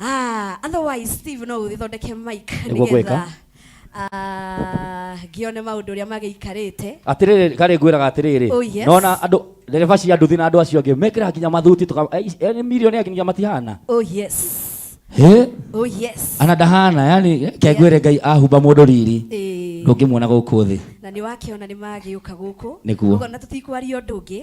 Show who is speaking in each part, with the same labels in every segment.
Speaker 1: Ah,
Speaker 2: otherwise Steve no ũthondeke mic Nĩguo ngwĩka. nĩgetha
Speaker 1: ah,
Speaker 2: ngĩone maũndũ ũrĩa magĩikarĩte atiriri kari ngwiraga
Speaker 1: atiriri Oh, yes. nona andu ndereba cia nduthi na andu acio angi mekira nginya mathuti tuka eh, ici- eh, ni milioni ya nginya matihana oh yes
Speaker 2: he oh yes
Speaker 1: ana ndahana yani eh, kengwire ngai ahumba mundu riri Eh, ndungimuona guku thi na nĩ wakĩona nĩ
Speaker 2: magĩũka gũkũ Nĩguo. Ũguo na tũtikwaria
Speaker 1: ũndũ
Speaker 2: ũngĩ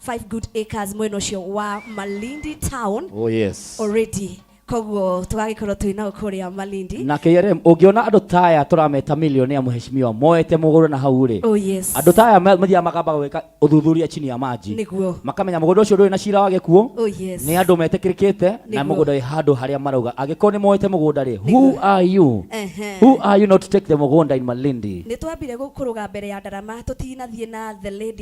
Speaker 2: Five good acres mwena ũcio wa Malindi town oh yes already koguo tũgagĩkorwo twĩ nao kũrĩa Malindi na KRM ũngĩona
Speaker 1: andũ ta aya tũrameta milioni ya mheshimiwa moete mũgũrũ na hau rĩ oh yes andũ ta aya ma- mathiaga makamba gwĩka ũthuthuria chini ya maji nĩguo makamenya mũgũnda ũcio ndũrĩ na cira wa gĩkuũ oh yes nĩ andũ metĩkĩrĩkĩte na Nĩguo. mũgũnda wĩ handũ harĩa marauga angĩkorwo nĩ moete mũgũnda rĩ who Nĩguo. are you Ehe. who are you not to take the mũgũnda in malindi nĩ twambire gũkũrũga
Speaker 2: mbere ya ndarama tũtinathiĩ na the lady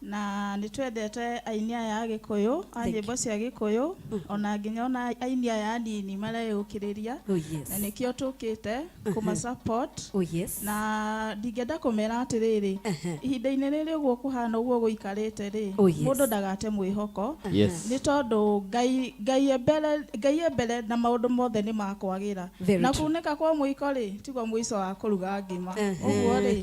Speaker 2: Na nĩ
Speaker 3: twendete aini aya a Gĩkũyũ, a nyĩmbo cia Gĩkũyũ, ona nginya ona aini aya anini mareyũkĩrĩria. Oh, yes. Na nĩkĩo tũkĩte kũma support. Oh, yes. Na ndingĩenda kũmera atĩrĩrĩ, Ehe. ihinda-inĩ rĩrĩ ũguo kũhana ũguo gũikarĩte rĩ, Oh, yes. mũndũ ndagate mwĩhoko. Yes. Nĩ tondũ Ngai, Ngai e mbere, Ngai e mbere na maũndũ mothe nĩ makwagĩra. Very Na true. kunĩka kwa mũiko rĩ, tiguo mũico wa kũruga ngima. Ehe. Ũguo rĩ,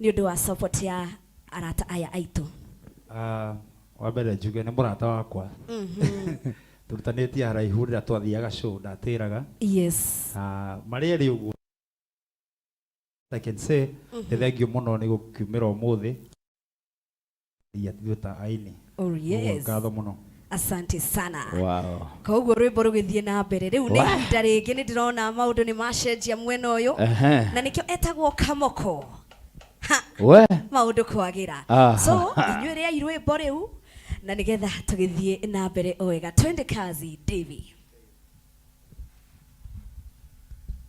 Speaker 2: Nĩ ũndũ wa support ya arata aya aitũ. Ah,
Speaker 4: wa mbere njuge nĩ mũrata wakwa. Tũrutanĩtie haraihu rĩrĩa twathiaga show ndatĩraga. Yes. Na
Speaker 2: marĩ erĩ
Speaker 4: ũguo I can say nĩ thengiũ mũno nĩ gũkiumĩra ũmũthĩ. Iya, ithuĩ ta aini Oh, Ũguo yes. ngatho
Speaker 2: mũno
Speaker 4: asante sana
Speaker 2: wow. koguo
Speaker 1: rwimbo rũgĩthiĩ
Speaker 2: na mbere rĩu nĩ Wah. ihinda rĩngĩ nĩ ndĩrona maũndũ nĩ macenjia mwena ũyũ Ehe. na nĩkĩo etagwo kamoko Ha,
Speaker 1: we maũndũ
Speaker 2: kwagĩra Aha. so inyuĩ rĩai rwĩmbo rĩu na nĩgetha tũgĩthiĩ na mbere o wega twende kazi Davy